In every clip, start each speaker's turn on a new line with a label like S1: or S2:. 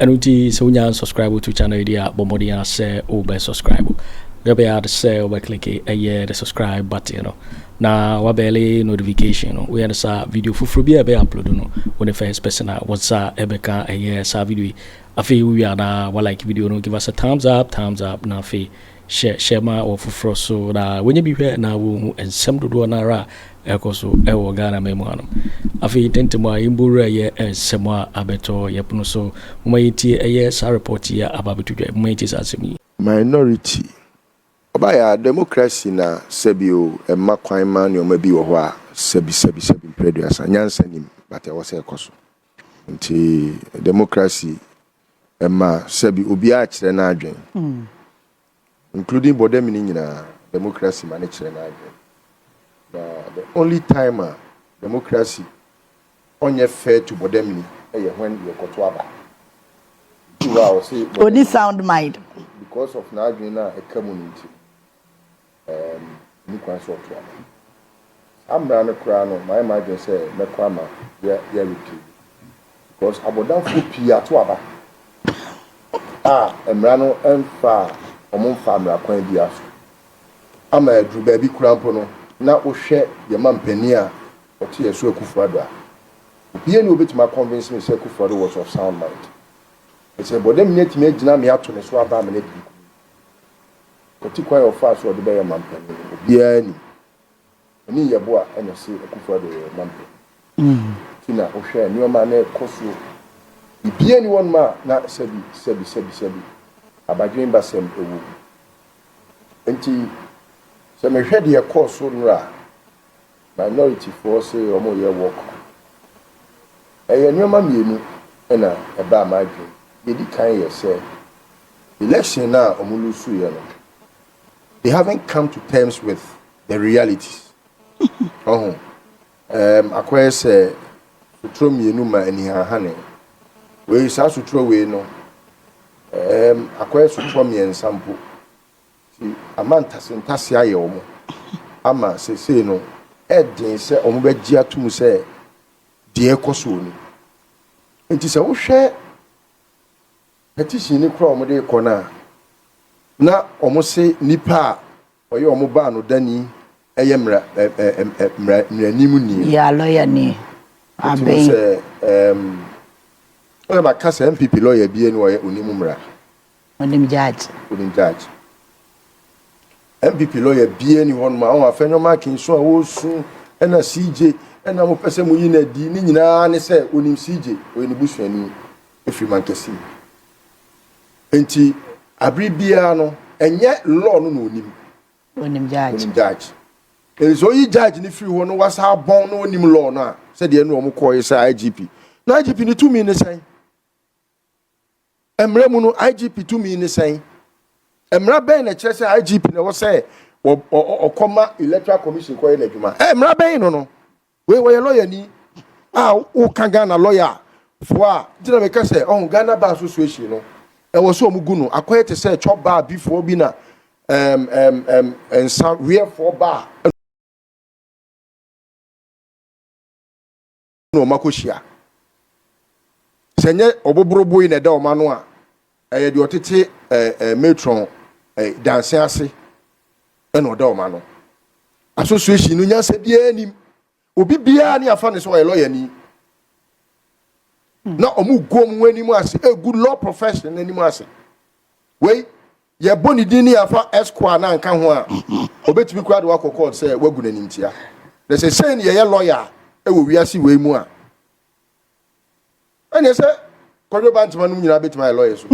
S1: Ɛno nti sɛ wonya unsubscribe to channel yi deɛ a, bɔ mmɔden ara sɛ wobɛ subscribe. Deɛ wobɛyɛ ara sɛ wobɛ click ɛyɛ the subscribe button no na wabɛle notification no. Woyɛ no saa video foforɔ bi a ɛbɛ upload no, wo ne first person a wɔn nsa ɛbɛka ɛyɛ saa video yi. Afei wowie a na wa like video no, give us a thumbs up, thumbs up na afei hyɛ hyɛ ma wɔ foforɔ so na wɔnyɛ bi hwɛ na wɔhu nsɛm dodoɔ no ara a ɛkɔ so wɔ ghana ma mu hanom afei ntɛntɛm a yɛmbɔ wura yɛ nsɛm a abɛtɔ yɛ pono so moma yɛntie ɛyɛ saa report yi a aba abɛto dwa moma yɛntie saa asɛm yi Minority.
S2: Ɔbaeɛ a, democracy na sɛbi o, ɛmma kwan ma nneɛma bi wɔ hɔ a sɛbi sɛbi sɛbi mprɛduasa. Nyansa nnim, but ɛwɔ sɛ ɛkɔ so. Nti democracy Ɛma sɛbi obiara kyerɛ n'adwen, including bɔdam no nyinaa, democracy ma no kyerɛ n'adwen. Na the only time a democracy ɔnyɛ fair to bɔdam ni ɛyɛ when yɛkɔto aba. Nti hɔ a ɔse bɔdam. Ɔni sound mind.
S3: Because of n'adwen
S2: no a ɛka mu no nti. Ɛɛm, onni kwan sɛ ɔtoa no. Saa mmara no koraa no, mayɛ m'adwene sɛ mɛkɔ ama yɛ yɛ repeal no because abɔdamfoɔ pii ato aba a mmara no mfaa wɔn mfaa mmara kwan biara so ama aduru baabi koraa mpo no na wohwɛ yɛn mampanin a ɔte yɛn so Akufo Addo a, obiara nni hɔ a obetumi a convince me sɛ Akufo Addo was of sound mind. Ɛsɛ bɔdamni atumi agyina me ato ne so aba amena didi kuw. Ɔte kwan a ɔfaa so a ɔde bɛyɛ manpanin no, obiara nim. Ɛne Yeboah na ɔse Akufo-Addo yɛ manpanin nti na wohwɛ a nneɛma no rekɔ so. Biribiara nni hɔnom a na sɛbi sɛbi sɛbi sɛbi, abadwenbasɛm wɔ mu. Enti sɛ mehwɛ deɛ ɛkɔɔ so nnora a, Minority foɔ se wɔn yɛ war crime. Ɛyɛ nnoɔma mmienu na ɛbaa m'adwene mu. Deɛ ɛdi kan yɛ sɛ, election no a wɔn lusuiɛ no, they haven't come to terms with the realities. Ɔho, um, akɔyɛ sɛ sotorɔ mmienu ma anihahane. Wei, saa sotorɔ wei no, um, akɔyɛ sotorɔ mmiɛnsa mpo. Enti ama ntasentasee ayɛ wɔn ama seesei no ɛyɛ den sɛ wɔbɛgye atom sɛ deɛ ɛrekɔ soɔ ni. Enti sɛ wohwɛ petition no kora a wɔde rekɔ no a, na wɔse nipa a ɔyɛ wɔn baanodani yɛ mmara mmaranim ni. Yeah, lawyer ni.
S3: Aben. Sɛ ɛɛm
S2: ɛna maka sɛ NPP lawyer bi ni ɔyɛ onim mmara. Wonim
S3: Judge? Wonim Judge?
S2: NPP lawyer biara ni hɔnom a ɔho afɛ nyɛ ɔma akin so a ɔresu ɛna CJ ɛna mo pɛ sɛ mo yi no adi ne nyinaa ne sɛ onim CJ ɔyɛ ne busuani efiri mankɛse mu nti abiri biara no ɛnyɛ law no na onim onim
S3: judge
S2: onim judge nso oyi judge ne firi hɔ no wasa abɔn na onim law no a sɛdeɛ ɛna wɔn kɔɔ yɛ sɛ IGP na IGP ne tumi ne sɛn Mmara mu no, IGP tumi ne sɛn? Mmara bɛn na ɛkyerɛ sɛ IGP na ɛwɔ sɛ ɔkɔma Electoral Commission kɔyɛ n'adwuma? Ɛ mmara bɛn no no? Wei wɔyɛ lɔyani a woka Ghana lɔya foɔ a nti na meka sɛ ɔho Ghana Bar Association no ɛwɔ sɛ wɔgu no akɔyɛ te sɛ chop bar bi foɔ bi na um, um, um, nsa weɛfoɔ bar na wɔn akɔhyia. Sɛ ɛnyɛ ɔboboroboe na ɛda wɔn ano a, ɛyɛ deɛ ɔtete eh, eh, matron eh, danse ase na ɔda wɔn ano. Association no nyansa biara nim. Obi biara ne afa ne sɛ ɔyɛ lɔyani. Na wɔn gu wɔn anim ase egu law profession anim ase. Wei Yɛbɔ ne din ne yɛafa Esquire no anka ho a, obetumi koraa de wo akɔ kɔɔt sɛ woagu no animtia. Na sɛ sei na yɛyɛ lɔya wɔ wiase wei mu a, ɛneɛ sɛ Kwadwo Bantema nom nyinaa betumi ayɛ lɔya su.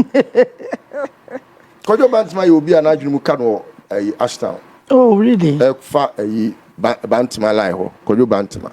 S2: Kwadwo Bantema yɛ obi a n'adwene mu ka no wɔ ayi Ashtown. Oh, really?
S3: Ɛfa ayi
S2: Bantema line hɔ, Kwadwo Bantema.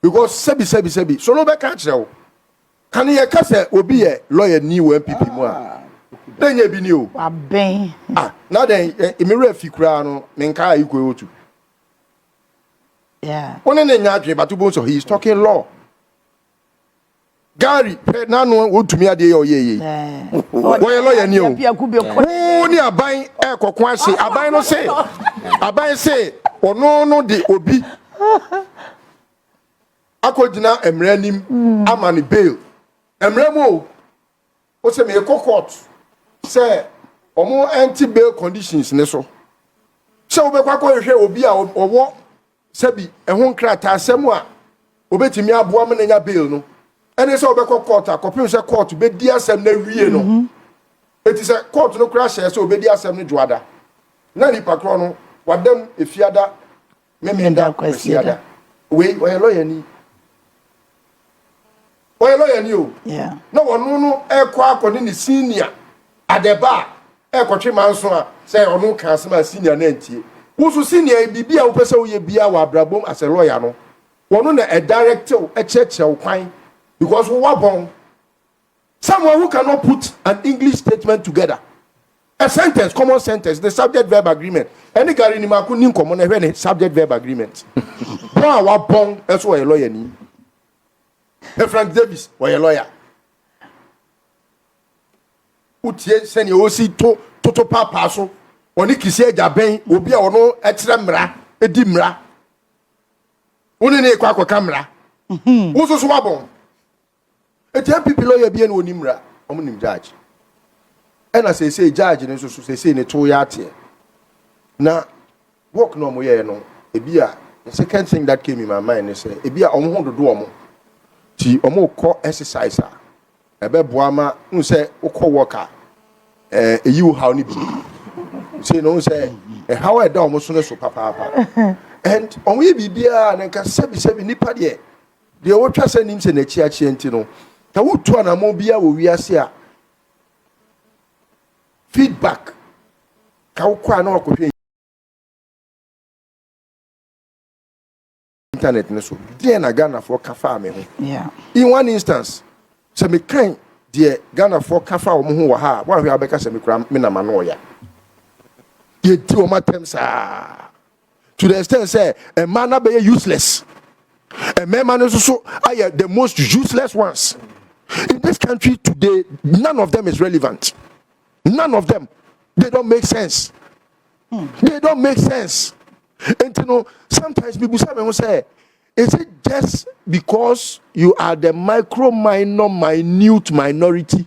S2: Because sɛbi sɛbi sɛbi so no bɛka akyerɛ wo. Kane yɛka sɛ obi yɛ lawyer ni wɔ NPP mu a, na ɛnyɛ ebi ni o. Wabɛn.
S3: Ah, na dɛn,
S2: me werɛ fi koraa no, menkaa Ikwe Otu.
S3: Yeah. Wo ne ne nyɛ adwene, but wobɛhu
S2: sɛ he is talking law. Gary hwɛ n'ano a wɔntumi adeɛ yɛ ɔyɛ yie wɔyɛ lɔya ni o wo ne aban ɛkɔko ahye aban no se aban se ɔno no de obi akɔgyina mmerɛ anim hmm. ama ne bail mmerɛ mu o wo sɛ meekɔ court sɛ ɔmo ɛnte bail conditions ne so sɛ wobɛkɔ akɔhwehwɛ obi a ɔwɔ Sɛbi ɛho nkrataasɛm a obetumi aboa ma n'anya bail no ɛne sɛ ɔbɛkɔ kɔɔto akɔpem sɛ kɔɔto bedi asɛm no awie no. Mhm. Eti sɛ kɔɔto no koraa hyɛɛ sɛ obedi asɛm no dwoada na nipa korɔ no wadam efiada Memenda Kwasiada. Wei ɔyɛ lɔyani. ɔyɛ lɔya ni o na ɔno
S3: no
S2: ɛkɔ akɔ ne ne senior adɛba a ɛkɔtwe manso a sɛ ɔno ka asɛm a senior no antie wo so senior yɛ biribi a wopɛ sɛ woyɛ biara wɔ abrabom asɛ lɔya no ɔno na ɛdirectew ɛkyerɛkyerɛw kwan because wowabɔn Someone who cannot put an English statement together, a sentence, common sentence, ne subject-verb agreement. Ɛne Gary Nimako nni nkɔmmɔ na hwɛ ne subject-verb agreement. Bɔn a wabɔn nso ɔyɛ lɔyani. Hwɛ Frank Davis, ɔyɛ lɔya. Wotie sɛnea ɔsi to toto paapaa so. Ɔne Kisi agya bɛn obi a ɔno kyerɛ mmara, di mmara. Wo ne ne kɔ akɔka mmara. Mhm. Wo nso so wabɔn. Eti NPP lɔya bi ɛna ɔnim mmra, wɔn nim judge. Ɛna seesei judge no nso so seesei ne to yɛ ateɛ. Na work na wɔn yɛɛ no, ebi a the second thing that came in my mind ne sɛ ebi a wɔn ho dodo wɔn. Ti wɔn kɔ exercise a ɛbɛboa ma n sɛ wokɔ work a ɛɛ eyi wo haw no bi. Sei no n sɛ ɛhaw a ɛda wɔn so no so papaapa. And wɔn yɛ biribiara na nka sɛbi sɛbi nipa deɛ. Deɛ wotwa sɛ nim sɛ n'akyiakyia nti no, sɛ wotu anammɔn biara wɔ wiase a, feedback ka wokɔ a na wakɔhwɛ internet no so deɛ na ghanafoɔ ka faa me ho in one
S3: instance
S2: sɛ mekan deɛ ghanafoɔ ka faa wɔn ho wɔ ha a woanhwɛ a wobɛka sɛ me koraa me na m'ano ɔya yɛdi wɔn atɛm saa to the extent sɛ mmaa no abɛyɛ useless mmarima no nso so ayɛ the most useless ones in this country today none of them is relevant none of them they don't make sense hmm. they don't make sense nti no sometimes people say me ho sɛ is it just because you are the micro minor minute minority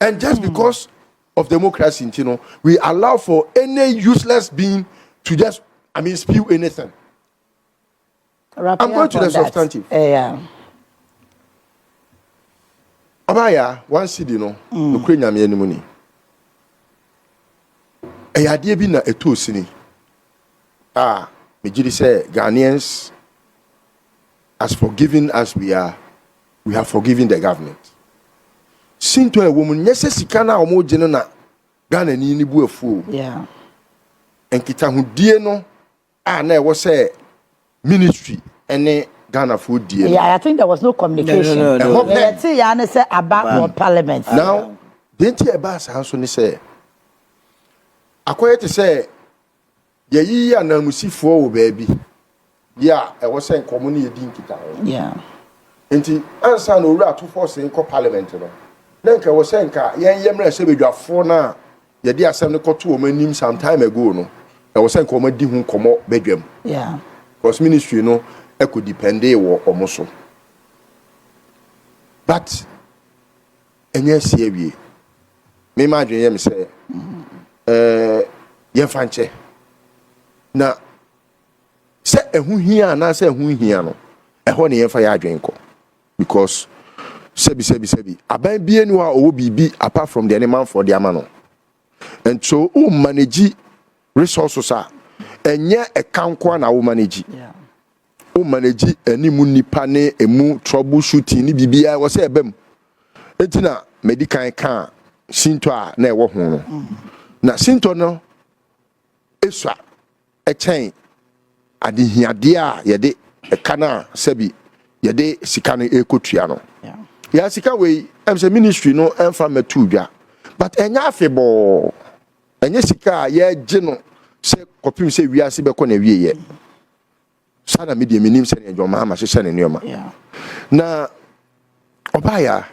S2: and just hmm. because of democracy nti no we allow for any useless being to just i mean spew anything Wrap i'm going to the substantive uh,
S3: yeah.
S2: ɔbaayɛ one cd no hmm. nokura nyame anim ni ɛyɛ adeɛ bi na ɛtoo sini a megye di sɛ ghanaians as forgiving as we are We have forgiven the government. Sintɔ a ɛwɔ mu nyɛ sɛ sika no a wɔregye no na Ghanani no bu afuo. Nkitahodie no a na ɛwɔ sɛ ministry ne Ghanafoɔ die no. Yeah, I think there was no
S3: communication. No, no, no. Ɛhɔ pɛ.
S2: ya ne sɛ
S3: aba wɔ parliament. Now, deɛ
S2: nti ɛbaa saa nso ne sɛ akɔyɛ te sɛ Yɛayiyi ananmusifoɔ wɔ baabi bi a ɛwɔ sɛ nka wɔne yɛn di nkitaho.
S3: Enti
S2: ansa na Owura ato force nkɔ Parliament no, na nka ɛwɔ sɛ nka yɛn yɛ mmarahyɛbadwafoɔ no a yɛde asɛm no kɔto wɔn anim some time ago no, ɛwɔ sɛ nka wɔadi ho nkɔmmɔ badwam. Because
S3: ministry
S2: no ɛkɔ dependee wɔ wɔn so. But. Ɛnyɛ asi awie. Me m'adwene yɛ me sɛ ɛɛ yɛmfa nkyɛ na sɛ ɛho hia anaasɛ ɛho nhia no ɛhɔ ne yɛmfa yɛ adwene nkɔ because sɛbi sɛbi sɛbi aban bie ni hɔ a ɔwɔ biribi apart from deɛ ne manfoɔ de ama no. And so wo manage resources a, ɛnyɛ ɛka nkoa na wo manage.
S3: Wo manage
S2: ɛne mu nipa ne ɛmu trouble shooting ne biribiara ɛwɔ sɛ ɛbɛ mu. Enti na madi kan ka sintɔ a na ɛwɔ ho no. Na sintɔ no esua. kyɛn adehiadeɛ a yɛde ka no a sɛbi yɛde sika no rekɔtua no. Yɛ sika
S3: wei,
S2: ɛm sɛ ministry no mfa mmɛtoo dwa, but ɛnyɛ afebɔɔ, ɛnyɛ sika a yɛgye no sɛ kɔpem sɛ wiase bɛkɔ n'awieɛ. Saa na me deɛ menim sɛdeɛ John Mahama hyehyɛ ne nneɛma. Na ɔbaeɛ a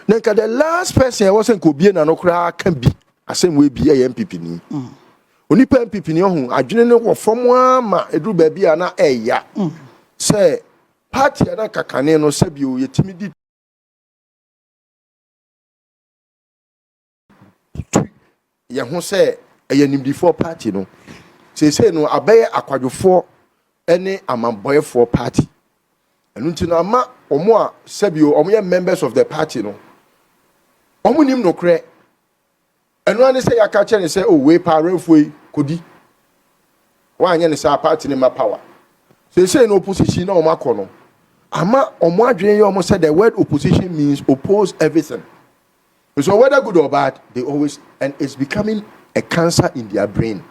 S2: na nka the last person ɛwɔ sɛ nka obie na no koraa ka bi asɛm wei bi ɛyɛ MPP ni. Mm. Onipa MPP ni ɔho adwene no wɔ fam ara ma ɛduru baabi a na ɛya mm. sɛ party a na kakane no sɛbio yɛtumi di tu yɛn ho sɛ ɛyɛ nimdifoɔ party no seesei no abɛyɛ akwadwofoɔ ne amambɔeɛfoɔ party ɛno nti no ama wɔn a sɛbio wɔn yɛ members of the party no wɔn nim nokorɛ ɛno ara ne sɛ yɛaka kyerɛ ne sɛ o oh, wei pa awɛmfoɔ yi kɔdi wɔanyɛ ne saa party ne ma power seesei no opposition na wɔn akɔ no ama wɔn adwene yɛ wɔn sɛ the word opposition means oppose everything. So whether good or bad they always and it's becoming a cancer in their brain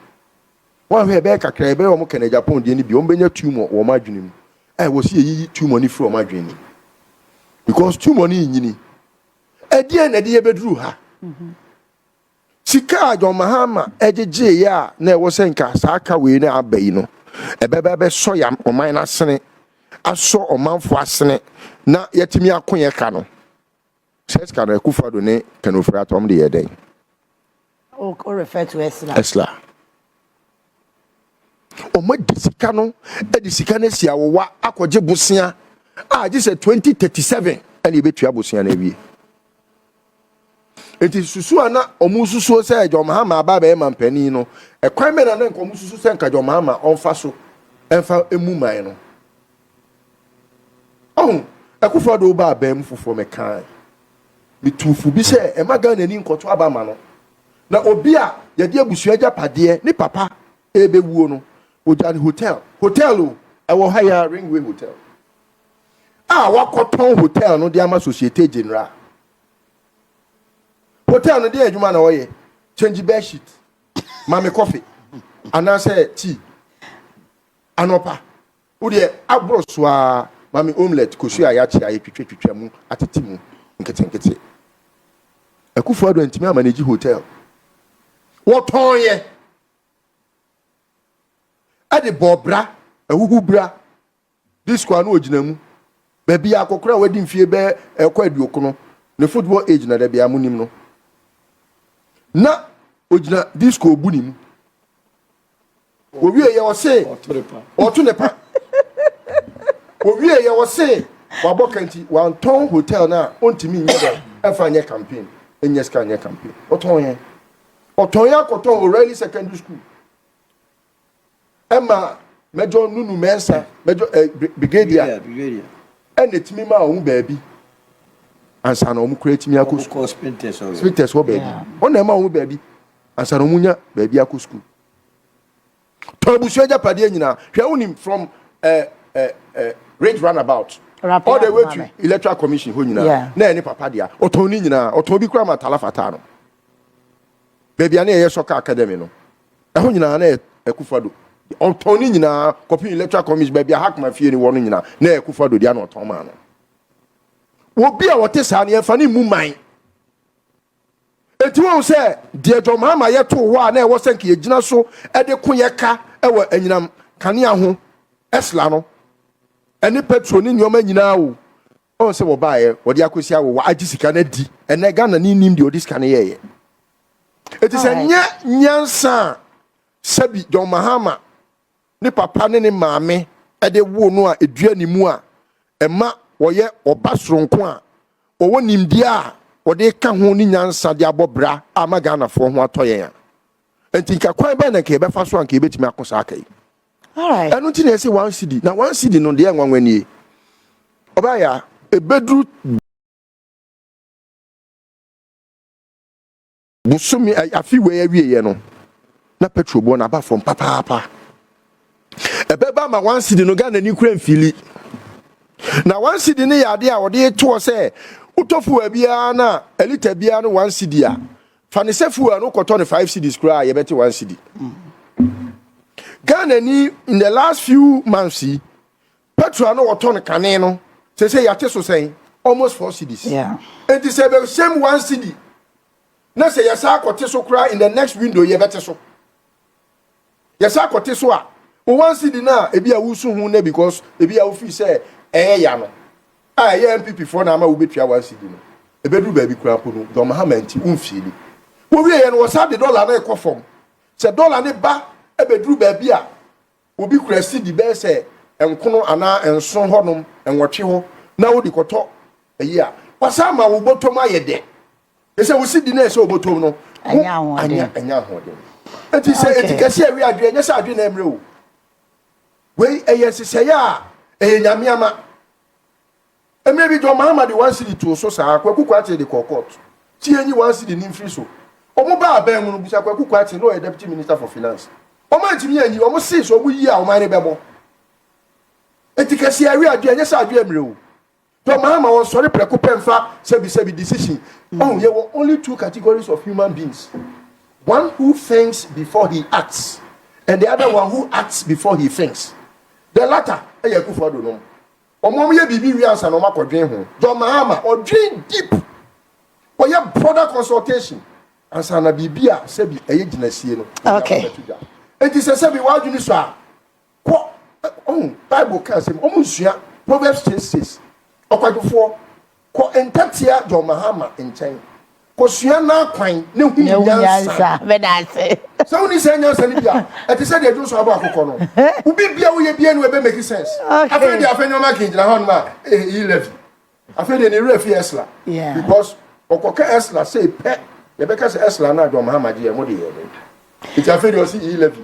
S2: woanhwɛ ɛbɛyɛ kakra yi ɛbɛyɛ wɔn kɛnɛ Japan deɛ no bi wɔn bɛnya tumor wɔ wɔn adwene mu a wɔsi yɛyiyi tumor no firi wɔn adwene mu because tumor no nyini ɛdeɛ na ɛde yɛbɛduru ha mm-hmm. sika a John Mahama ɛgyegyeeɛ a na ɛwɔ sɛ nka saa ka wei no aba yi no ɛbɛbɛ bɛsɔ yɛ ɔman no asene asɔ ɔmanfoɔ asene na yɛtumi ako yɛ ka no Sɛs ka no Akufo Addo ne Ken Ofori Atta wɔn de yɛɛ dɛn? Wo refer
S3: to Esla. Esla.
S2: Wɔn adi sika no de sika no asi awowa akɔgye bosea a agye sɛ 2037 ɛna ebetua bosea no awie. Eti susu a na wɔn susuo sɛ John Mahama aba abɛyɛ manpanin no, ɛkwan bɛn na na nka wɔn susu sɛ nka John Mahama ɔnfa so ɛnfa emu man no? Ɔho, Akuffo Addo wo ba abaa mu foforɔ mɛkaae metuu fo bi sɛ ɛma Ghana ni nkɔto aba ma no na obi a yɛde abusua agyapadeɛ ne papa ɛrebɛwuo no ɔgya ne hotel hotel o ɛwɔ ha yɛa Ringway hotel a wakɔtɔn hotel no de ama Societe General hotel no deɛ adwuma na ɔyɛ change bed sheet ma me kɔfe anaasɛ tea anɔpa Wo deɛ aboro so ara ma me omelette, kosua a yɛakye a yɛatwitwa twitwa mu atete mu nketenkete. Akufo Addo antumi amanage hotel. Wɔtɔn yɛ ɛde bɔɔ bra, ahuhu bra, disco a na ɔgyina mu. Baabi a akɔkora a wadi mfie bɛɛ ɛkɔ aduokono, ne football age na da bia monim no. Na ɔgyina disco ɔbu ne mu. wɔwie yɛ ɔse ɔto ne pa wɔwie yɛ ɔse wabɔ ka nti wantɔn hotel no a ɔntumi nyɛ dɛ ɛfa nyɛ campaign ɛnyɛ sika nyɛ campaign ɔtɔn yɛ ɔtɔn yɛ akɔtɔn O'Reilly secondary school ɛma mɛjɔ nunu mɛnsa mɛjɔ ɛ eh, brigadier ɛna ɛtumi ma ɔmo baabi ansa na ɔmo kura ɛtumi akɔ sukuu spinters wɔ baabi ɔna ɛma ɔmo baabi Ansa na wɔn nya baabi akɔ sukuu. Tɔ abusua agyapadeɛ nyinaa. Hwɛ wonim from eh, eh, eh, Ridge Runabout. All the way to Electoral Commission hɔ nyinaa. Yeah. Na ɛne papa dea. Ɔtɔn ne nyinaa. Ɔtɔn bi koraa ma Tala Fataa no. Baabi a na yɛyɛ soccer academy no. Ɛho nyinaa na ɛkufa do. Ɔtɔn ne nyinaa kɔpem Electoral Commission baabi a Hakma fie ne wɔ no nyinaa na ɛkufa do dea na ɔtɔn maa no. Obi a wɔte saa no yɛmfa ne mmu man. Enti woahu sɛ deɛ John Mahama yɛ too hɔ a na ɛwɔ sɛ nka yɛgyina so de ko yɛ ka wɔ anyinam kanea ho, Esla no, ɛne petro ne nneɛma nyinaa o, ɔn sɛ wɔbaeɛ, wɔde akɔsi awo, wɔagye sika no adi. Ɛnnɛ Ghana ni nnim deɛ ɔde sika no yɛeɛ. Enti sɛ nyɛ nyansa a, sɛbi John Mahama ne papa ne ne maame de woo no a edua ne mu a ɛma ɔyɛ ɔba soronko a ɔwɔ nimdeɛ a ɔde reka ho ne nyansa de abɔ bra a ama Ghanafoɔ ho atɔ yɛn a ɛnti nka kwan bɛn na nka yɛbɛfa so a nka yɛbɛtumi ako saa ka yi. Ɛno
S3: nti na yɛse one cedi
S2: na one cedi no deɛ nwanwa nie. Ɔbɛayɛ a ɛbɛduru. bosome afe wei awieɛ no na petrol boɔ no aba fam papaapa ɛbɛba ma one cedi no Ghana ni kura mfili na one cedi no yɛ adeɛ a wɔde toɔ sɛ wotɔ fuwa biara na elita biara no one cedi a fa ne sɛ fuwa no kɔtɔ no five cedis koraa a yɛbɛte one cedi Ghana ni in the last few months yi Petrol a na wɔtɔn kane no, seesei yɛate so sɛn? Almost four cedis. Enti sɛ ɛbɛ same one cedi, na sɛ yɛsan akɔte so koraa in the next window yɛbɛte so. Yɛsan akɔte so a, wo one cedi no a ebi a wosu ho nɛ because ebi a wofii sɛ ɛyɛ ya no, a ɛyɛ MPP foɔ na ama wobɛtua one cedi no. Ɛbɛduru baabi koraa mpo no, John Mahama nti, womfiili. Wowieɛ no, wɔsan de dɔla no rekɔ fam. Sɛ dɔla no ba bɛduru baabi a, Obi kura sidi bɛyɛ sɛ nkono anaa nson hɔnom, nwɔtwe hɔ, na odi kɔtɔ ayi a, wasan ama wo bɔtɔm ayɛ dɛ. Te sɛ wo sidi no a ɛsɛ wo bɔtɔm no ho anya anya ahoɔden. Enti sɛ eti kɛse a ɛwe adwene, ɛnyɛ sɛ adwene na ɛremmrɛ wo. Wei yɛ nhyehyɛe a ɛyɛ Nyame ama. Mmerɛ bi John Mahama de one cedi too so saa, Kwaku Kwartey de kɔɔ court. Tie nyi one cedi no mfiri so. Wɔn baa abɛn mu no, bisa Kwaku Kwartey, na ɔyɛ Deputy Minister for Finance. Wɔn antumi anyi, wɔn see sɛ wɔn yi a, ɔman no bɛbɔ. Enti kɛseɛ awe adwe, ɛnyɛ sɛ adwe mmerɛ o. John Mahama ɔnsɔre prɛko pɛ mfa sɛbi sɛbi decision. Ɔhu, yɛwɔ only two categories of human beings. One who thinks before he acts and the other one who acts before he thinks. The latter ɛyɛ Akufo-Addo nom. Wɔn yɛ biribi wie ansa na wɔn akɔ dwen ho. John Mahama ɔdwen deep, ɔyɛ broader consultation ansa na biribi a sɛbi ɛyɛ gyinasie no ɔde aba bɛto dwa.
S3: Enti sɛ
S2: sɛbi w'adwene sɔ a, kɔ, ɔhu, Bible ka asɛm, wɔn nsua Proverbs chase chase, ɔkwadwofoɔ. Kɔ ntɛtea John Mahama nkyɛn kosua n'akwan na hu nyansa.
S3: Sɛ wonni saa nyansa
S2: no bi a, ɛte sɛ deɛ dwo nso abɔ akokɔ no. Wo biribiara a woyɛ biara no ɛbɛ make sense. Afei deɛ afei nneɛma kii gyina hɔnom a ɛyi levy. Afei deɛ ne werɛ fi Esla because
S3: ɔkɔka
S2: Esla sei pɛ yɛbɛka sɛ Esla no a John Mahama gyeɛ mo de yɛ dɛn. Nti afei deɛ ɔsi yi levy.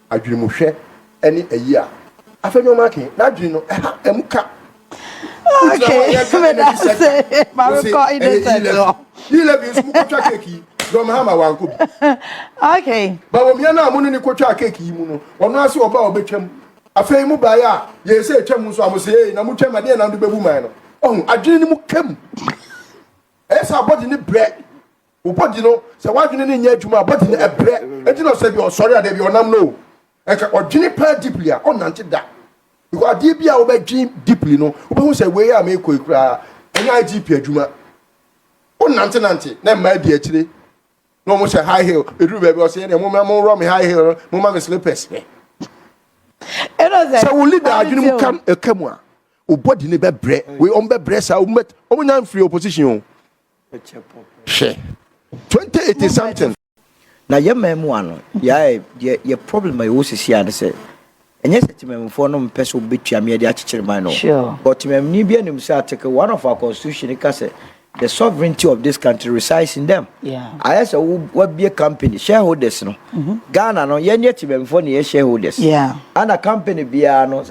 S2: Adwene mu hwɛ ɛne ayi a. Afei nneɛma ake n'adwene no ɛha ɛmu ka. Wogyina
S3: hɔ a yɛka energy sector. Wose
S2: ɛyɛ E-level. E-level nso mo kɔtwa cake yi John Mahama wankɔ bi. Okay.
S3: Bawomia no a mo
S2: ne ne kɔtwaa cake yi mu no ɔno ara se ɔba a ɔbɛtwam. Afei mo baeɛ a yɛɛ sɛ ɛtwa mu nso a mo se ee na mo twam ɛdeɛn na mode bɛbu man no. Ɔho adwene no mu ka mu. Ɛyɛ sɛ abɔde no brɛ. Wo body no, sɛ w'adwene no nyɛ adwuma a, body no ɛbrɛ. Enti na ɔsɛ bia ɔsɔre a, daabi a ɔnam no o. Ɛka ɔdwene paa deeply a, ɔnnante da. Because adeɛ bi a wobɛdwen deeply no, wobɛhu sɛ wei a meekɔ yi koraa, ɛnyɛ IGP adwuma. Wonante nante, na mmaa di akyire, na wɔn hyɛ high heel. Ɛduru baabi a, ɔsɛ yɛdeɛ momma monworɔ me high heel no, momma me slippers me. Sɛ wo leader adwene mu kam ɛka mu a, wo body no bɛbrɛ. Wei, wɔn bɛbrɛ saa, wɔn nya mfiri opposition o. Hwɛ twenty eighty something. Na yɛ
S4: mmaamua no yɛa deɛ yɛ problem a yɛwɔ sisi a ne sɛ ɛnyɛ sɛ temamufoɔ no mpɛ sɛ wɔbɛtua me de akyekyere man no but temamuni
S3: biara nim
S4: sɛ article one of our constitution no ka sɛ the sovereignty of this country resides in them ayɛ sɛ
S3: wabie
S4: company shareholders no mm-hmm. Ghana no yɛnyɛ temamufoɔ ne yɛ shareholders ana
S3: company
S4: biara no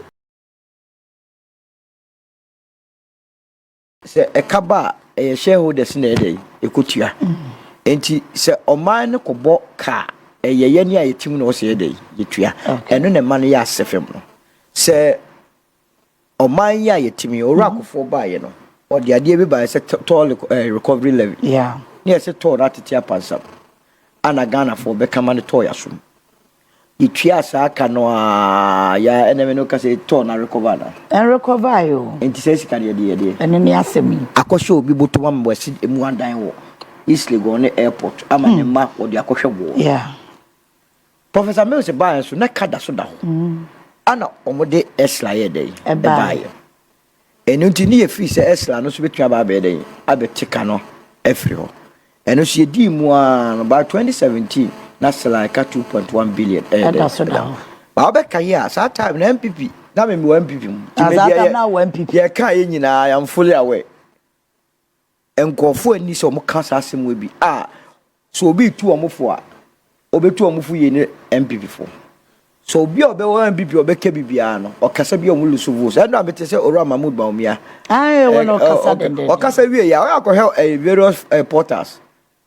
S4: Sɛ ɛka ba a, ɛyɛ shareholders na ɛdɛ ɛkɔtua. Nti sɛ ɔman no kɔbɔ ka a, ɛyɛ yɛne a yɛtim na ɔsɛ yɛdɛ yɛtua. Ɛno na ɛma no yɛ asɛ fam no. Sɛ ɔman yi a yɛtim yi, ɔwura akɔfoɔ baeɛ no, ɔde adeɛ bi baeɛ sɛ toll recovery levy. Na yɛsɛ toll no atete apansam. Ana Ghanafoɔ bɛka ma no toll yɛasom. Yetuaa saa ka no ara, ya a, ɛnna me ne wo kasa yi tɔɔ no arekɔva anaa? Ɛnrekɔvae o.
S3: Enti saa sika no, yɛde yɛ
S4: deɛn? Ɛno ne asɛm yi.
S3: Akɔhyɛ obi bottom
S4: ama wasi emu adan wɔ East Legon ne airport ama ne mma wɔde akɔhwɛ boɔ. Yeah. Professor Mills baeɛ nso, na ka da so da hɔ. Ɛnna wɔde Esla yɛɛ dɛn? Ɛbaeɛ. Ɛno nti, ne yɛ firi sɛ Ɛsra no nso bɛtumi aba abɛyɛ dɛn? Abɛte ka no afiri hɔ. Ɛno nso yɛdii mu ara no, by 2017 na Sela ɛka 2.1 billion ɛyɛ dɛn? Ɛda so da hɔ.
S3: Ba wobɛka yi a,
S4: saa time no NPP, na me mewɔ NPP mu. Nti me deɛ yɛ,
S3: yɛka yɛ nyinaa, I
S4: am fully aware. Nkurɔfoɔ nni sɛ wɔka saa asɛm wei bi a, sɛ obi retu wɔn fo a, ɔbɛtu wɔn fo yie ne NPP fo. Sɛ obi a ɔbɛwɔ NPP a ɔbɛka biribiara no, ɔkasa bi a wɔn lusu votes. Ɛno a mete sɛ Owura Mahmood Bawumia. Ae, wɔn
S3: ɔkasa dɛndɛndɛn. Ɔkasa wie yɛ a,
S4: ɔyɛ akɔhwɛ various portals.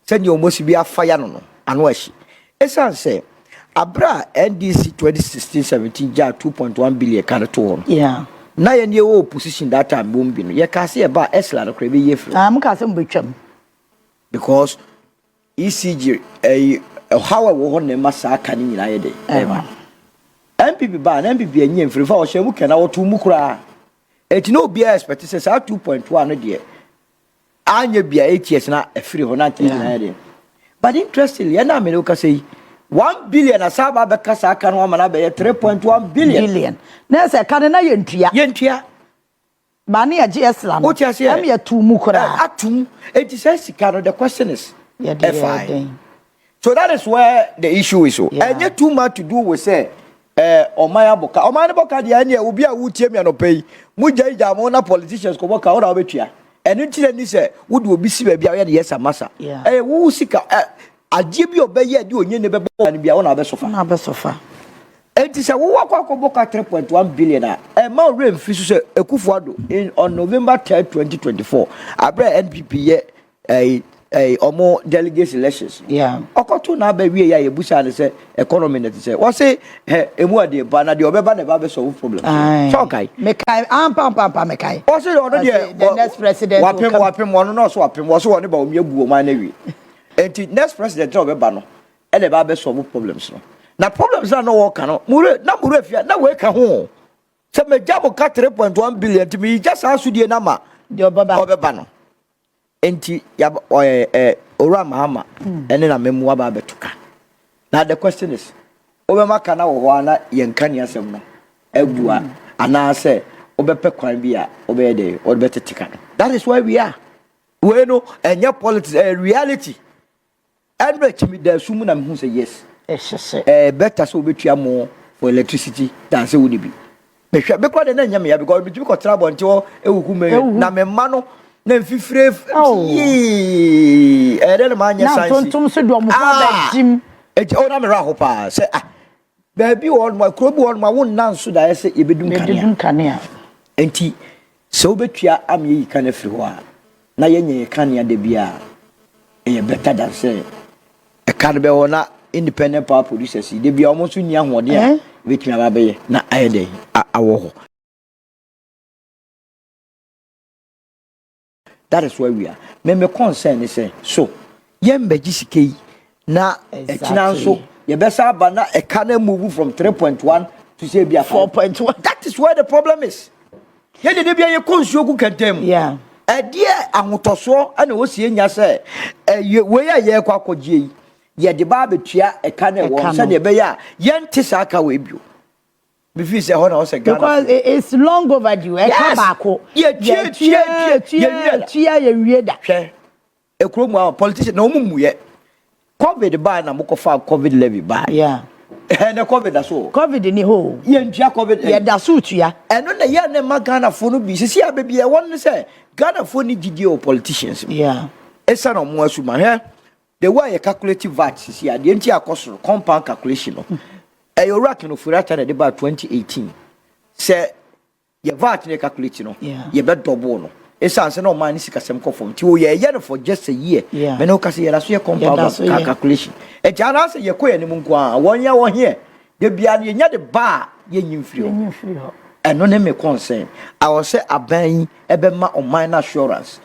S4: Sɛdeɛ wɔasi bi afa yi ano no, ano ahye. Ɛsiane sɛ berɛ a NDC 2016-17 gyaa two point one billion ka de too hɔ no, na yɛn yɛwɔ opposition that time wɔn bi no, yɛkaa sɛ yɛba a ECLA no koraa yɛbɛyi afiri hɔ. Mokaa sɛ mobɛtwam. Because ECG ɛyi ɔhaw a ɛwɔ hɔ na ɛma saa ka no nyinaa yɛ dɛ ɛba. NPP baa na NPP anyi amfiri fa ɔhyɛ mu kɛ na wɔtoo mu koraa. Ɛti na obiara expect sɛ saa two point one no deɛ anyɛ bia eight years na ɛfiri hɔ na nka ɛdi ayɛ deɛ but interestingly ɛna amene wo kasa yi one billion asa aba abɛka saa ka no ama no abɛyɛ three point one billion billion na ɛsɛ ɛka no na
S3: yɛntua yɛntua ba ne yɛgye ɛsla no wote aseɛ ɛm yɛto mu koraa atom enti
S4: saa sika no the question is ɛfae So that is where the issue is o. Yeah. Ɛnyɛ too much to do with sɛ ɛɛ ɔman abɔ ka. Ɔman no bɔ ka deɛ ɛneɛ obi a wotie mi anɔpɛ yi mo gya yi gya mo na politicians kɔbɔ ka ɔna ɔbɛtua. Ɛno nti na ni sɛ wode obi si baabi a ɔyɛ ne yɛsa masa. Yeah. Ɛyɛ wo sika ɛ adeɛ bi a ɔbɛyɛ ɛde onye ne bɛbɔ ka no bi a ɔna ɔbɛsofa. Ɔna ɔbɛsofa. Enti sɛ wowɔ akɔ akɔbɔ ka 3.1 billion a ɛma ɔwerɛ mfiri so sɛ Akufo-Addo in on November 3, 2024 aberɛ a NPP yɛ ɛyi ɛyi ɔmo delegates elections no yeah. ɔkɔto n'aba wie yɛ a yɛbusaa no sɛ economy na ti sɛ wɔse hɛ emu ɔde ba na deɛ ɔbɛba na ɛba bɛ solve problem sɛ ɔkae mekae ampampampa
S3: mekae ɔse deɛ ɔno
S4: deɛ wapem
S3: wapem ɔno na ɔso
S4: wapem wɔse wɔne ba ɔmi agu wɔn ano awie nti next president na ɔbɛba no ɛna ɛba bɛ solve problems no na problems na na wɔka no mure na mure fia na wɔka ho sɛ megya mo ka 3.1 billion nti meyigya saa sodie no ama deɛ ɔbɛba
S3: no
S4: Enti yɛaba ɔɛ ɛ Owura Mahama ne n'amammu aba abɛto ka. Now the question is, wobɛma ka no wɔ hɔ ara na yɛnka nea asɛm no abu a, anaasɛ wobɛpɛ kwan bi a wobɛyɛ dɛ wɔde bɛtete ka no? That is where we are. Wei no ɛnyɛ politics, ɛyɛ reality. Ɛno akyi me daa sum mu na me hu sɛ yes ɛhyɛ sɛ ɛɛ better sɛ obetua mo for electricity than sɛ wonni bi. Me hwɛ me kora deɛ na nyɛ me ya because me tumi kɔ tra abɔnten hɔ ewu hu me na me mma no na nfifire yii ɛyɛ dɛ na maa nyɛ sansi ah ɛgya o na me wura ho paa sɛ ah Baabi wɔ hɔnom a, kuro bi wɔ hɔnom a wonna nso daeɛ sɛ yɛbɛdum kanea. Yɛbɛdum kanea. Enti sɛ wobɛtua ama yɛyi kan afiri hɔ a, na yɛnyɛ yɛ kanea da bi a, ɛyɛ bɛta dan sɛ ɛka no bɛ hɔ na independent power producers yi da bi a wɔn nso nni ahoɔden a ɛbɛtumi aba abɛyɛ na ayɛ dɛn awɔ hɔ. That is why we are Me me concern ne sɛ so yɛmbɛgye sika yi na ɛkyina nso yɛbɛsa aba na ɛka na move from 3.1 to say bi a 4.1 that is where the problem is yɛn dede bia yɛkɔ nsuo gu kɛntɛn mu yeah. ɛdeɛ ahotɔsoɔ ɛna wɔ sie nya sɛ ɛyɛ wei a yɛrekɔ akɔgye yi yɛde ba abɛtua ɛka na ɛwɔ sɛdeɛ ɛbɛyɛ a yɛnte saa ka wei bio Mefii sɛ ɛhɔ na ɔsɛ Ghana. Because it's long
S3: overdue. Ɛka baako. Yɛ tue tue
S4: tue tue tue yɛ nwie da. Hwɛ. Ekuro mu a politician na wɔn mu yɛ. Covid baa na mo kɔ fa covid levy baa. Yeah. Ɛhɛn na covid da so. Covid ni hɔ. Yɛ
S3: ntua covid. Yɛ
S4: da so tua.
S3: Ɛno na yɛ na ɛma
S4: Ghana fo no bi sisi a baabi ɛwɔ no sɛ Ghana fo ni gyidie wɔ politicians mu. Yeah. Esa na wɔn asuma hwɛ. The way a yɛ calculate vat sisi a deɛ nti a ɛkɔ soro compound calculation no ɛyɛ owura Ken Ofori-Atta na ɛde baa 2018 sɛ yɛ vat na yɛ calculate no yɛ bɛ double no esan sɛ na ɔman ne sikasɛm kɔ fam nti o yɛ yɛ no for just a year mɛ na ɔka sɛ yɛ da so yɛ compound calculation ɛti anaasɛ yɛ kɔ yɛ anim nko ara wɔn yɛ wɔn heɛ de bia no yɛ nya de ba a yɛ nyi mfiri hɔ ɛno ne me concern awɔ sɛ aban yi ɛbɛ ma ɔman no assurance.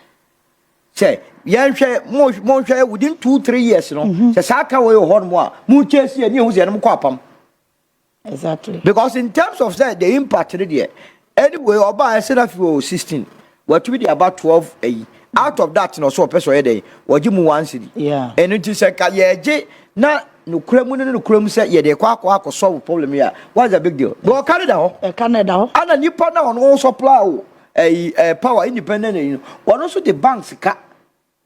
S4: sɛ yɛnhwɛ mo monhwɛ within two three years no mhm. sɛ saa ka wɔ yɛ hɔ nom a mo kyɛ si ɛni ehu sɛ ɛnum kɔ apam. exactly
S3: because in terms
S4: of sɛ the impact no deɛ anyway ɔbaa ɛsɛ na fi wɔ sixteen watumi de aba twelve ɛyi out of that na ɔsɛ ɔpɛ sɛ ɔyɛ dɛ wɔgye mu one city ɛnu ti sɛ ka yɛgye na nukura mu ne nukura mu sɛ yɛde kɔ akɔ akɔ solve problem yi a what is the big deal bɔn ɔka ne da hɔ ɛka ne da hɔ ɛna nipa na ɔno supply o. ɛyi ɛɛ power independent ɛyi no wɔn nso de bank sika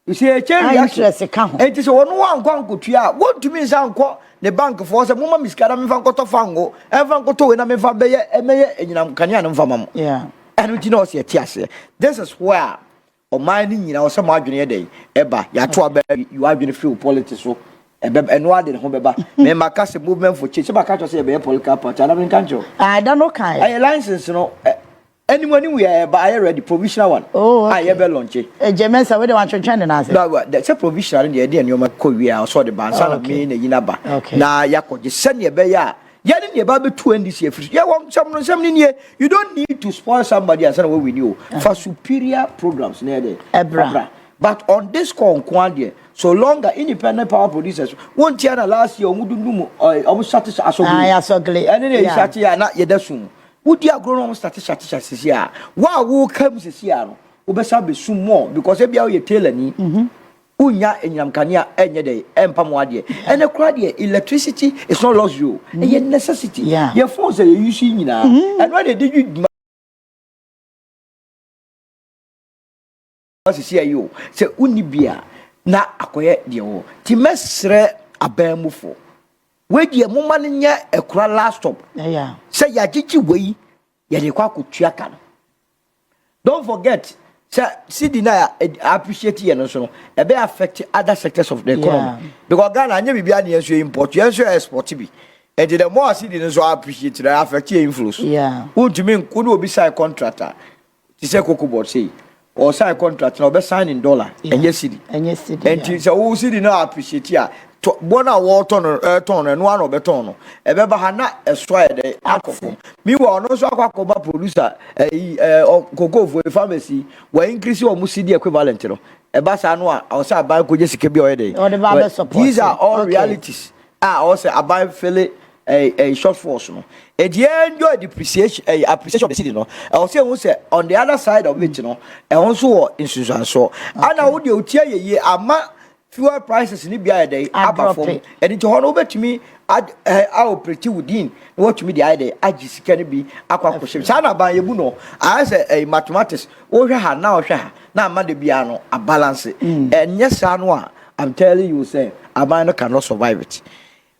S4: sɛ ɛkyɛ A reaction interest ka ho. ɛti
S3: sɛ wɔn wankɔ
S4: ankotua a wɔntumi nsa nkɔ ne bank foɔ sɛ moma me sika na mefa nkɔtɔ fango ɛmfa nkɔtɔ wei na mefa bɛyɛ ɛmɛyɛ anyinam kanea no mfa ma mo Yeah. ɛno nti na ɔsɛ yɛte aseɛ this is where ɔman no nyinaa ɔsɛ mo adwene yɛ dɛn ɛba yɛato aba yi yɛ adwene firi wo politics so ɛbɛ ɛno ade ne ho bɛba mɛma ka sɛ movement for change sɛ bɛka kyerɛ sɛ yɛbɛyɛ political party ana menka nkyerɛ wo Ah, ɛda no kae.
S3: ɛyɛ license no
S4: ɛ Ɛni mu ɛni mu yɛ ɛba ayɛ ready provisional one oh, a yɛbɛ lɔnkye. ɛgyɛ eh, mɛnsa wei de wantwentwɛn
S3: ne nan ase. sɛ provisional
S4: no deɛ yɛde nneɛma kɔ wie a ɔsɔ de ba nsa na mii na yi na ba na yɛakɔgye sɛdeɛ ɛbɛyɛ a yɛne deɛ ɛba bɛtu ndc afiri so yɛwɔ nsɛm no nsɛm no nie you don't need to spoil somebody ansa na wɔwini o ah. fa superior programs na yɛde ɛbra but on this call nko adeɛ so longer independent power producers wɔn ti na last year wɔn dundun mu wɔn sati asɔgele
S3: ɛne na yɛ sati yɛ
S4: na yɛda sum. Wodi agorɔ na wɔn sate sate sate sisi a wo a woka mu sisi a no wobɛsa abɛsum more because ebia woyɛ tailor ni mhm. wonya anyinam kanea ɛnyɛ dɛ ɛmpa mo adeɛ ɛnɛ koraa deɛ electricity is not luxury o mhm. ɛyɛ necessity yɛ phones a yɛyi so nyinaa mhm. ɛno ɛna ɛde dwi dwuma Ɔwɔ sesia yi o sɛ wonni bi a na akɔyɛ deɛ ɔwɔ ti mɛsrɛ aban mu fo wei deɛ mo ma no nyɛ ɛkora last stop sɛ yɛagyegye wei yɛde kɔ akɔtua ka no don't forget sɛ cd na appreciate yɛ no nso no ɛbɛ affect other sectors of the economy yeah. because Ghana anyɛ biribiara ne yɛn nso yɛ import yɛn nso yɛ export bi ɛnti the more cd no nso appreciate na affect yɛ inflows yeah. wontumi wo ne obi sign contract a Te sɛ koko board sei, ɔɔ sign contract na ɔbɛ sign in dollar, ɛnyɛ cedi. Ɛnyɛ cedi ya. Ɛnti
S3: sɛ wo cedi
S4: no appreciate a, tɔ, bɔ no a wɔɔtɔ no, ɛɛtɔn no, ɛno ara na ɔbɛ tɔn no. Ɛbɛ ba ha na ɛso ayɛ dɛn? Akɔ fam. Meanwhile, ɔno nso akɔ akɔ ba producer, ɛyi, ɛɛ, ɔ, koko foɔ yi, farmers yi, wa increase wɔn cedi equivalent no. Ɛba saa no a, ɔsɛ aban kɔ gye sika bi a ɔyɛ dɛn? Ɔde ba abɛ support. These are all realities. a ɔwɔ sɛ aban fele ɛyi ɛyi short force no edi enjoy depreciation ɛyi appreciation of the city no ɛwɔ sɛ ehu sɛ on the other side of it no ɛho nso wɔ nsunsuansoɔ ɛna wo deɛ otie yɛ yie ama fuel prices ne bi ayɛ dɛ aba fam ɛdi nti hɔ no wobɛtumi ad ɛɛ aoperate within na watumi de ayɛ dɛ agye sika no bi akɔ akɔhyɛ saa na aban yɛ bu no ayɛ sɛ ɛyi mathematics wohwɛ ha na ɔhwɛ ha na ama de biara no abalance ɛnyɛ saa no a I'm telling you sɛ aban no cannot survive it.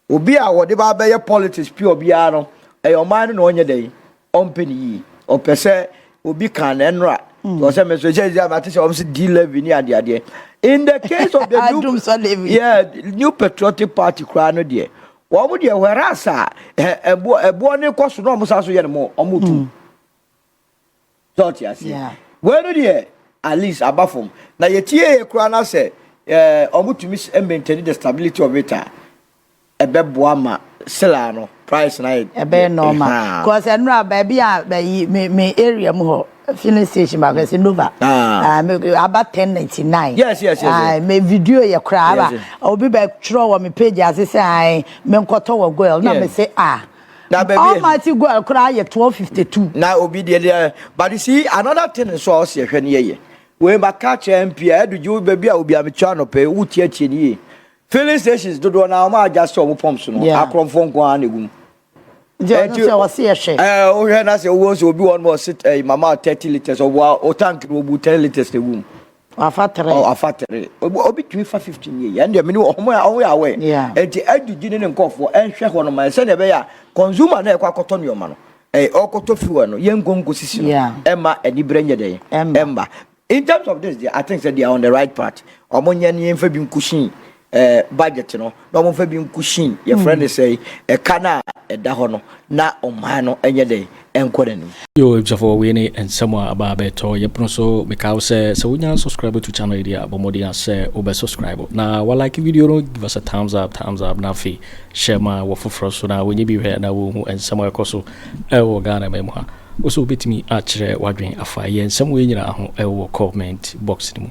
S4: Obi a wɔde ba abɛyɛ politics pure biara no, ɛyɛ ɔman no na ɔnyɛ dɛn, ɔmpɛ no yie. Ɔpɛ sɛ obi kan na ɛnora. Mm. Ɔsɛ me nso ɛsɛ ɛsɛ ate sɛ ɔmo sɛ D levy ne adeɛ adeɛ. In the case of the new, yeah, new patriotic party koraa no deɛ, wɔn deɛ whereas a ɛboɔ ɛboɔ ne kɔ so na wɔn san so yɛ no mo wɔn tu. Mm. sɛ ɔte aseɛ yeah. wei no deɛ at least aba fam na yɛtiee koraa no sɛ eh, ɔmotumi maintain the stability of it a ɛbɛboa ma sela no price na ɛbɛyɛ normal
S3: eh, cause ɛnora baabi a bɛyi me me area mu hɔ filling station baako ɛsɛ nova ah. ah, aba ten ninety nine yes yes yes ah,
S4: me video
S3: yɛ koraa aba obi bɛ twerɛ wɔ me page ase sɛ me nkɔtɔ wɔ goil na me se ah Na baabi a.
S4: Almighty God koraa yɛ
S3: twelve fifty two. Na obi deɛ deɛ
S4: but you see another thing nso a ɔsi ɛhwɛ ne yɛ yɛ wei ba ka kyerɛ MP a ɛdu gye baabi a obi a metua anɔpɛ yi wotie atie ne yie filling stations dodoɔ na wɔn a agya sɛ wɔn pump so no Yeah. akorɔmfoɔ nko ara na egu mu. Nti ɔno Ɛti-
S3: sɛ ɔsi ɛhwɛ. Ɛɛ wohwɛ na sɛ owó
S4: nso obi wɔ hɔ no ɔsi ɛɛ mama thirty litres ɔboa o tank no obu ten litres na egu mu Wafa tere. Ɔ afa tere. Obi obi tumi fa 15 yie. Yɛn deɛ mene ɔmo a ɔmo yɛ awɛ. Yeah. Enti adidi ne ne nkɔfoɔ ɛnhwɛ hɔ no ma sɛdeɛ ɛbɛyɛ a consumer na ɛkɔ akɔtɔ nneɛma no. Ɛɛ ɔkɔtɔ fuel no yɛn nkɔ nkɔ sisi no. Yeah. Ɛma anibere nyɛ dɛn. Ɛmba. Ɛmba. In terms of this deɛ I think sɛ they are on the right part. Ɔmo nyɛ ne yɛn fa bi nkɔ sii. eh, budget no na wɔmfa bi nkusin yɛfrɛ no sɛ ɛka no a ɛda hɔ no na ɔman no ɛnyɛ dɛn ɛnkɔ n'anim. Yo abusuafoɔ
S1: wei ne nsɛm a aba abɛtɔ yɛ pono so mekaa wo sɛ sɛ wonya subscribe to channel yi deɛ a bɔ mmɔden a sɛ wobɛ subscribe na wa like video no give us a thumbs up thumbs up na afei hyɛ ma wɔ foforɔ so na wɔnyɛ bi hwɛ na wɔhu nsɛm a ɛkɔ so ɛwɔ Ghana ma mu ha wo sɛ wobɛtumi akyerɛ wadwen afa yɛ nsɛm wei nyinaa ho ɛwɔ comment box no mu